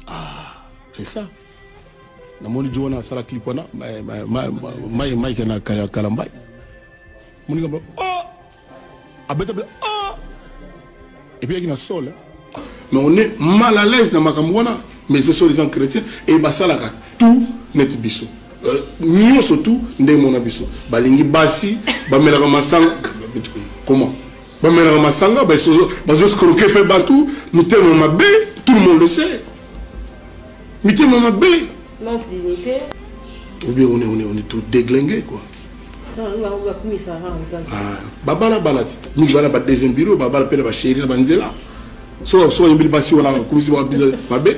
ah c'est ça namoni jo wana asala clip wana mike mike na kalambai moninga ba oh abeta bla oh et puis yaki na sol hein. mais on est mal à l'aise na makambo wana mais ce sont les gens chrétiens et basalaka tout neti biso euh, nyonso tout nde mona biso balingi basi bamelaka masanga comment bamelaka masanga bazoscroke mpe bato mitema mabe tout le monde le sait mitema mabe manque dignité obi on est on est on est tout déglingué quoi ah, babala bala ti mingi bana ba deuxième bureau babala mpe na basheri na banzela so so oyembeli basi wana bakumisi babiza mabe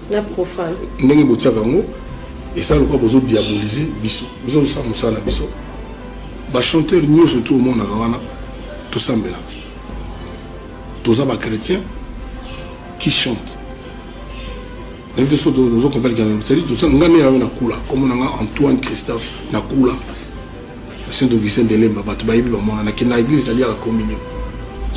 na profane ndenge botiaka yango esa lokola bozo diaboliser biso biso tosala mosala na biso bachanteur nyonso tu omonaka wana tosambela toza bachrétien qui chante nayebi te so tozo comprendre kana cetadi tosala ngai nde nayo nakula komona ngai antoine christophe nakula saint augustin ndelemba bato bayebi bamonanaki na eglise naliaka communion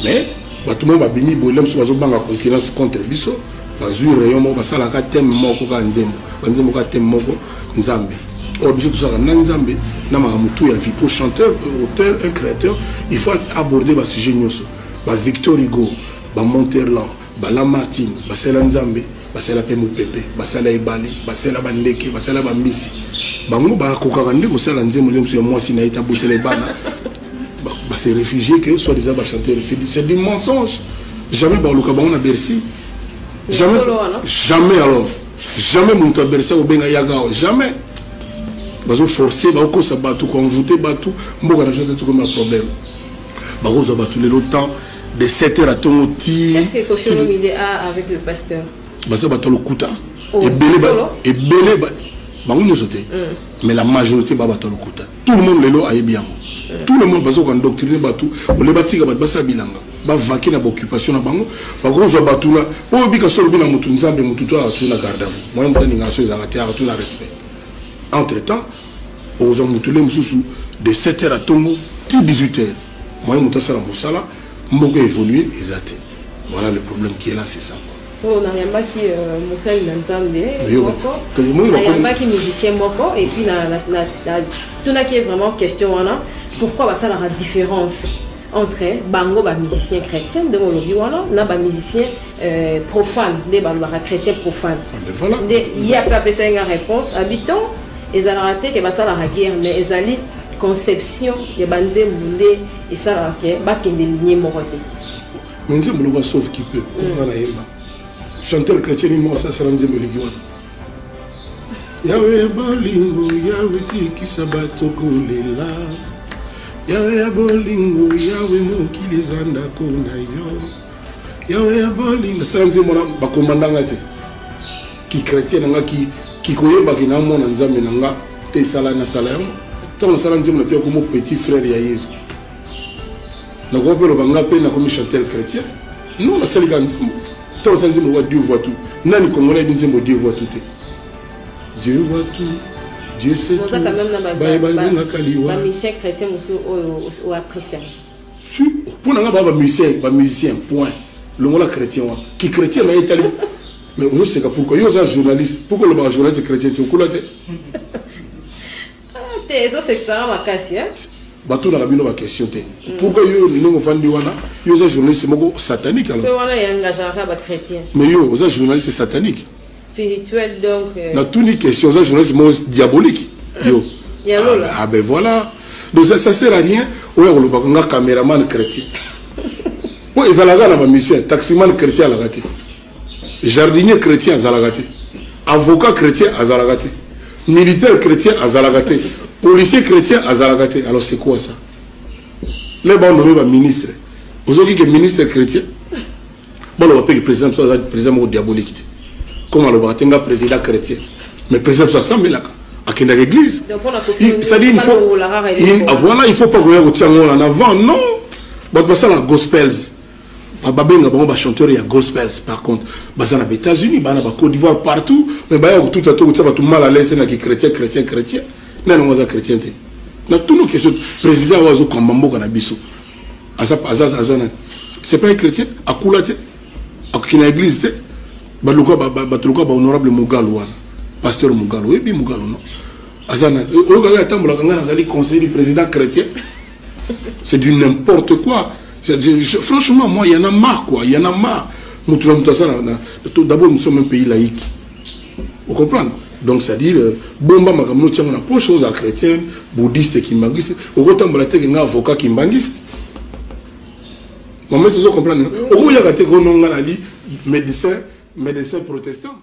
mais bato moko babimi boyela mosusu bazobanga concurrence contre biso bazwi rayon moko basalaka teme moko kaka nzembo banzembo kaka teme moko nzambe or biso tosalaka na nzambe na makambo tu ya vipo chanteur auteur un créateur il faut aborder basujet nyonso bavictor hugo bamonterland Bala Martin, basala Nzambe, basala pe mupepe, basala ebale, basala bandeke, basala bambisi. Bango bakokaka nde kosala nzembo nde mosusu ya mwasi na ye tabotela ebana ba se réfugier que soit disant ba chanteur c'est du mensonge jamais baluka bango na Bercy jamais jamais alors jamais moto ya Bercy akobenga yaga awa jamais bazo forcer bakokosa bato koenvoute bato mboka na biso te tokomi na problème bakozwa bato lelo temps de 7 heures atongo ti baza bato ya lokuta oh, ebele bango nyonso te mm. mais la majorité ba bato ya lokuta tout le monde lelo ayebi yango mm. tout le monde bazoka endoctrine bato ole batika bato basala bilanga bavaki na baoccupation na bango bakozwa bato na po obika so olobi na motu nzambe motu to akatuna garde à vous moyen motaninga na so ezalaka te akatuna respect entre temps okozwa moto nde mosusu de 7 heures atongo ti 18 heures moye moto asala mosala mboka évolue eza te voilà le problème qui est là c'est ça oyo nayambaki euh, mosali na nzambe nayambaki musicien moko epuis natunaki ye vraiment question wana pourquoi basalaka différence entre bango ba musicien chrétien ndenge olobi wana na ba musicien euh, profane nde balobaka chrétien profane ah, nde ye ape apesaki nga réponse habitant ezalaka te ke basalaka guerre mais ezali conception ya banzembo nde esalaka ke bakende linie moko te mais nzembo lokola sauve qui peut nga nayemba chanteur chrétien ni moko asasala nzembo eleki wana yawe ya bolingo yawe tikisa bato kolela yawe ya bolingo yawe mokili eza ndako na yo yawe ya bolingo nasala nzembo na bakomanda nga te kikretien na nga kikoyebaki na mwana nzambe na nga te esala nasala yango ntango nasala nzembo na mpe yakomo petit frère ya yesu nakoki mpe loba nga mpe nakomi chantel chrétien non nasalika nzembo Tant osali nzembo lokola Dieu voit tout. Nani Congolais ayebi nzembo Dieu voit tout te? Dieu voit tout. Dieu sait tout. Baye balingaka liwa. Ba musiciens chrétiens mosusu oyo o apprécier. Si mpo na nga ba ba musiciens, ba musiciens point. Longola chrétien wana. Ki chrétien na ye etali mais ozoseka pourkoi yo oza journaliste pourkoi olobaka journaliste chrétien te okula te Ah, te ezo sekisanga makasi hein batunaka bino baquestion te mm. pourquoi yo ndenge ofandi wana yo oza journaliste moko satanique alors mais yo oza journaliste satanique spirituel donc euh, natuni question oza journaliste moko diabolique yo ah, ah ben voilà donc ça, ça sert à rien oya kolobaka nga cameraman chrétien mpo ezalaka na bamisien taximan chrétien alaka te jardinier chrétien azalaka te avocat chrétien azalaka te militaire chrétien azalaka te policier chrétien azalaka te alors c'est quoi ça le banome baministre ozoki ke ministre chrétien baloba mpe ke président biso aza président moko diabolique te comme alobaka te nga président chrétien mais président biso asambelaka akendaka église c'est-à-dire il faut voilà il faut pas koya kotia ngo wana avant non bato basala gospels babenga bango ba chanteur ya gospels par contre baza na ba états-unis baa na ba côte d'ivoire partout mais baya kotuta to kotia bato mal à l'aise na kichrétien chrétien chrétien nani yango aza chrétien te na tunu question président oyo azokamba mboka na biso aza aza nani c'est pas un chrétien akula te akoki na église te baluka bato lokola bahonorable mugalu wana pasteur mugalu oyebi mugalu no aza nani oyokaka atambolaka ngai nazali conseiller du président chrétien c'est du n'importe quoi franchement moi y'en a marre quoi y'en a marre mutu na mutu aza na d'abord nous sommes un pays laïque vous comprenez donc c'est à dire euh, bomba makambo no tiango na poche oza chrétien bouddhiste kimbanguiste okotambola te ke nga avocat kimbanguiste mama esi ozo comprendre okoyaka te kononga nali médecin médecin protestant